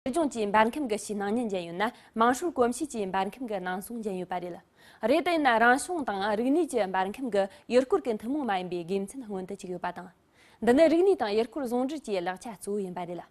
སྲིད་སྐྱོང་བཅས་འབར་མཁན་གྱི་ཕྱི་ནང་གཉིས་འཇལ་ཡོད་ན་དམངས་ཧྲུལ་གོམས་གཤིས་བཅས་འབར་མཁན་གྱི་ནང་སོང་འཇལ་ཡོད་པ་རེད། རེད་དེ་ཡིན་ན་རང་བྱུང་དང་རིག་ནུས་བཅས་འབར་མཁན་གྱི་ཡུལ་སྐོར་གྱི་ཐུན་མོང་མ་ཡིན་པའི་དགེ་མཚན་སྔོན་དུ་བཅུག་ཡོད་པ་དང། འདི་ནི་རིག་ནུས་དང་ཡུལ་སྐོར་ཟུང་འབྲེལ་གྱི་ལེགས་ཆ་གཙོ་བོ་ཡིན་པ་རེད།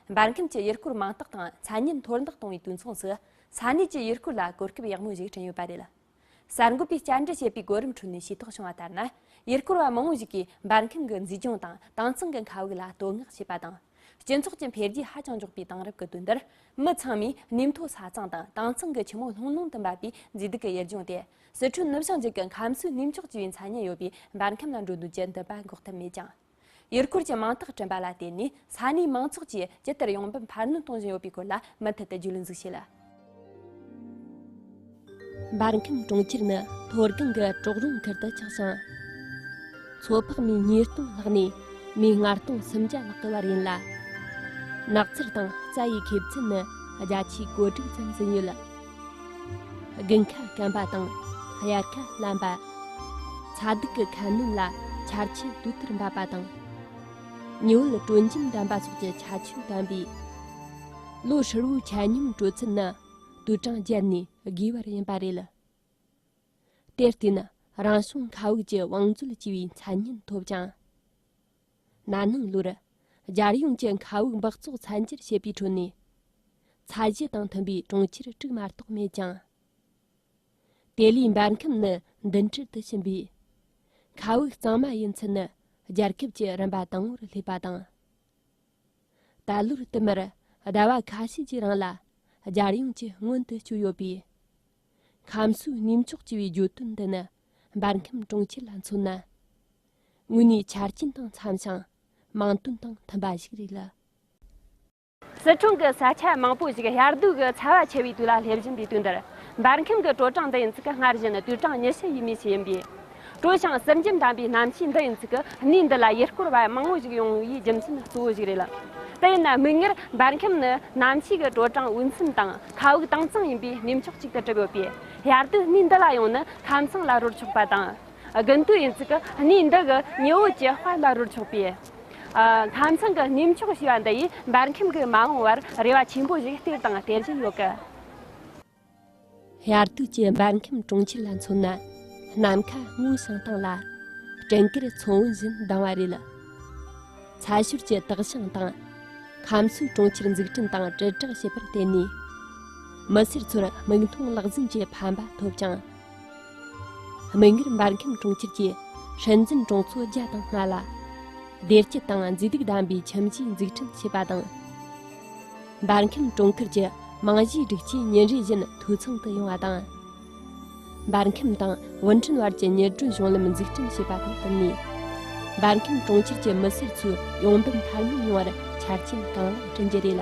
འབར་མཁན་གྱི་ཡུལ་སྐོར་མིང་རྟགས་དང་མཚན་སྙན་མཐོར་འདེགས་གཏོང་བའི་དུས་མཚུངས་སུ་ས་གནས་ཀྱི་ཡུལ་སྐོར་ལ་གོ་སྐབས་ཡག་མོ་ཞིག་བསྐྲུན་ཡོད་པ་རེད། གསར་འགོད་པས་བསྐྱར་འདྲི་བྱས་པའི་གོ་རིམ་ཁྲོད་ནས་ཤེས་རྟོགས་བྱུང་བ་ལྟར་ན། ཡུལ་སྐོར་བ་མང་བོ་ཞིག་གིས་འབར་མཁན་གྱི་མཛེས་ལྗོངས་དང་དྭངས་གཙང་གི་མཁའ་དབུགས་ལ་བསྟོད་བསྔགས་བྱས་པ་དང། སྤྱི་ཚོགས་ཀྱི་འཕེལ་རྒྱས་ཧ་ཅང་མགྱོགས་པའི་དེང་རབས་ཀྱི་དུས་འདིར། མི་ཚང་མས་གནས་མཐོ་ས་གཙང་དང་དྭངས་གཙང་གི་ཆུ་མོ་ལྷུང་ལྷུང་དུ་འབབ་པའི་མཛེས་སྡུག་གི་ཡུལ་ལྗོངས་དེ། སི་ཁྲོན་ནུབ་བྱང་རྒྱུད་ཀྱི་ཁམས་སུ་གནས་མཆོག་ཅེས་པའི་མཚན་སྙན་ཡོད་པའི་འབར་ཁམས་ལ་འགྲོ་འདོད་ཀྱི་འདུན་པ་འགོག་ཐབས་མེད་ཀྱང། ཡུལ་སྐོར་གྱི་མིང་རྟགས་བསྐྲུན་པ་ལ་བརྟེན་ནས་ས་གནས་མང་ཚོགས་ཀྱིས་ཇི་ལྟར་ཡོང་འབབ་འཕར་སྣོན་གཏོང་བཞིན་ཡོད་པའི་སྐོར་ལ་མུ་མཐུད་དུ་རྒྱུད་ལུང་འཛུགས་བྱས། འབར་མཁན་གྲོང་ཁྱེར་ནི་མཐོ་སྒང་གི་གྲོག་རོང་ཁུལ་དུ་ཆགས་ཤིང། མཚོ་འཕགས་མའི་ཉིས་སྟོང་ལྷག་ནས་མིའི་སྔ་སྟོང་སུམ་བརྒྱ་ལྷག་གི་བར་ཡིན་ལ། ནགས་ཚལ་དང་རྩྭ་ཡི་ཁེབས་ཚད་ནི་བརྒྱ་ཆའི་གོ་དྲུག་ཙམ་ཟིན་ཡོད། དགུན་ཁ་སྐམ་པ་དང་དབྱར་ཁ་བརླན་པ། ཚ་སྡུག་གི་ཁ་སྣོན་ལ་འཆར་ཆུ་དུས་ལྟར་འབབ་པ་དང། ཉི་འོད་དྲོད་འཇམ་ལྡན་པ་སོགས་ཀྱི་ཆ་ཆུང་ལྡན་པས། ལོ་ཧྲིལ་བོའི་ཆ་སྙོམས་དྲོད་ཚད་ནི་དུས་གྲངས་བརྒྱད་ནས་བརྒལ་བར་ཡིན་པ་རེད། དེར་བརྟེན་རང་བྱུང་མཁའ་དབུགས་ཀྱི་བང་མཛོད་ཅེས་པའི་མཚན་སྙན་ཐོབ་ཅིང། ན་ནིང་ལོར་རྒྱལ་ཡོངས་ཀྱི་མཁའ་དབུགས་འབག་བཙོག་ཚད་འཇལ་བྱེད་པའི་ཁྲོད་ནས་ཚད་གཞི་དང་མཐུན་པའི་གྲོང་ཁྱེར་དཀྲུག་མ་གཏོགས་མེད་ཀྱང། དེ་ལས་འབར་ཁམས་ནི་མདུན་གྲལ་དུ་ཕྱིན་པས། མཁའ་དབུགས་གཙང་མ་ཡིན་ཚུལ་ནི་རྒྱལ་ཁབ་ཀྱི་རིམ་པ་དང་པོར་སླེབས་པ་དང། ད་ལོར་བསྟུད་མར་ཟླ་བ་ཁ་ཤས་ཀྱི་རིང་ལ་རྒྱལ་ཡོངས་ཀྱི་སྔོན་དུ་བསྐྱོད་ཡོད་པས། ཁམས་གསོའི་གནས་མཆོག་ཅེས་པའི་བརྗོད་དོན་འདི་ནི་འབར་ཁམས་གྲོང་ཁྱེར་ལ་མཚོན་ན། དངོས་གནས་ཆ་རྐྱེན་དང་འཚམས་ཤིང་མིང་དོན་དང་མཐུན་པ་ཞིག་རེད་ལ། སི་ཁྲོན་གྱི་ས་ཆ་མང་པོ་ཞིག་ཡར་ཟློས་ཀྱི་ཚ་བ་ཆེ་བའི་དུས་ལ་སླེབས་བཞིན་པའི་དུས་འདིར། འབར་ཁམས་ཀྱི་དྲོ་གྲང་འདི་ཡིན་ཚུལ་གྱི་སྔར་བཞིན་དུས་གྲངས་ཉི་ཤུ་ཡས་མས་ཤིག་ཡིན་པས། དྲོ་ཞིང་བསིལ་འཇམ་དམ་པའི་གནམ་གཤིས་འདི་ཡིན་ཚུལ་གྱི་གནས་འདི་ལ་ཡུལ་སྐོར་བ་མང་བོ་ཞིག་ཡོང་བའི་རྒྱུ་མཚན་གཙོ་བོ་ཞིག་རེད་ལ། དེ་ཡིན་ན་མིག་སྔར་འབར་ཁམས་ནི་གནམ་གཤིས་ཀྱི་དྲོ་གྲང་འོས་འཚམས་དང་མཁའ་དབུགས་དྭངས་གཙང་ཡིན་པའི་གནས་མཆོག་ཅིག་ཏུ་གྲུབ་ཡོད་པས། ཡར་ཟློས་གནས་འདི་ལ་ཡོང་ན་ཁམས་གསང་ལ་རོལ་ཆོག་པ་དང། དགུན་དུས་ཡིན་ཚུལ་གྱི་གནས་འདི་གི་ཉི་འོད་ཀྱི་དཔལ་ལ་རོལ་ཆོག་པས། ལྷ་མཚང་གི་གནས་མཆོག་ཞེས་པ་འདི་ཡིས་འབར་ཁམས་ཀྱི་མ་འོངས་བར་རེ་བ་ཆེན་པོ་ཞིག་སྟེར་དང་སྟེར་བཞིན་ཡོད་སྐད། དབྱར་དུས་ཀྱི་འབར་ཁམས་གྲོང་ཁྱེར་ལ་མཚོན་ན་ནམ་མཁའ་སྔོ་ཞིང་དྭངས་ལ། སྤྲིན་དཀར་མཚོ་བོན་བཞིན་དྭངས་བ་རེད། ཚྭ་ཤུར་གྱི་དག་ཞིང་དང། ཁམས་གསོས་གྲོང་ཁྱེར་འཛུགས་སྐྲུན་དང་དྲིལ་བསྒྲགས་བྱེད་པར་བརྟེན་ནས། མི་སེར་ཚོར་མིག་མཐོང་ལག་ཟིན་གྱི་ཕན་པ་ཐོབ་ཅིང། མིག་སྔར་འབར་མཁན་གྲོང་ཁྱེར་གྱི་སྲིད་འཛིན་གྲོང་ཚོ་བརྒྱ་དང་ལྔ་ལ་བདེ་སྐྱིད་དང་མཛེས་སྡུག་ལྡན་པའི་ཁྱིམ་གཞིས་འཛུགས་སྐྲུན་བྱས་པ་དང། འབར་མཁན་གྲོང་ཁུལ་གྱི་རྨང་གཞིའི་སྒྲིག་ཆས་ཉིན་རེ་བཞིན་འཐུས་ཚང་དུ་ཡོང་བ་དང། འབར་མཁན་དང་ཝུན་ཁྲོན་བར་གྱི་གཉེར་སྐྲུན་གཞུང་ལམ་འཛུགས་སྐྲུན་བྱས་པ་དང་བསྟུན་ནས། འབར་མཁན་གྲོང་ཁྱེར་གྱི་མི་སེར་ཚོའི་ཡོང་འབབ་འཕར་སྣོན་ཡོང་བར་ཆ་རྐྱེན་གང་ལེགས་བསྐྲུན་རྒྱུ་རེད་ལ།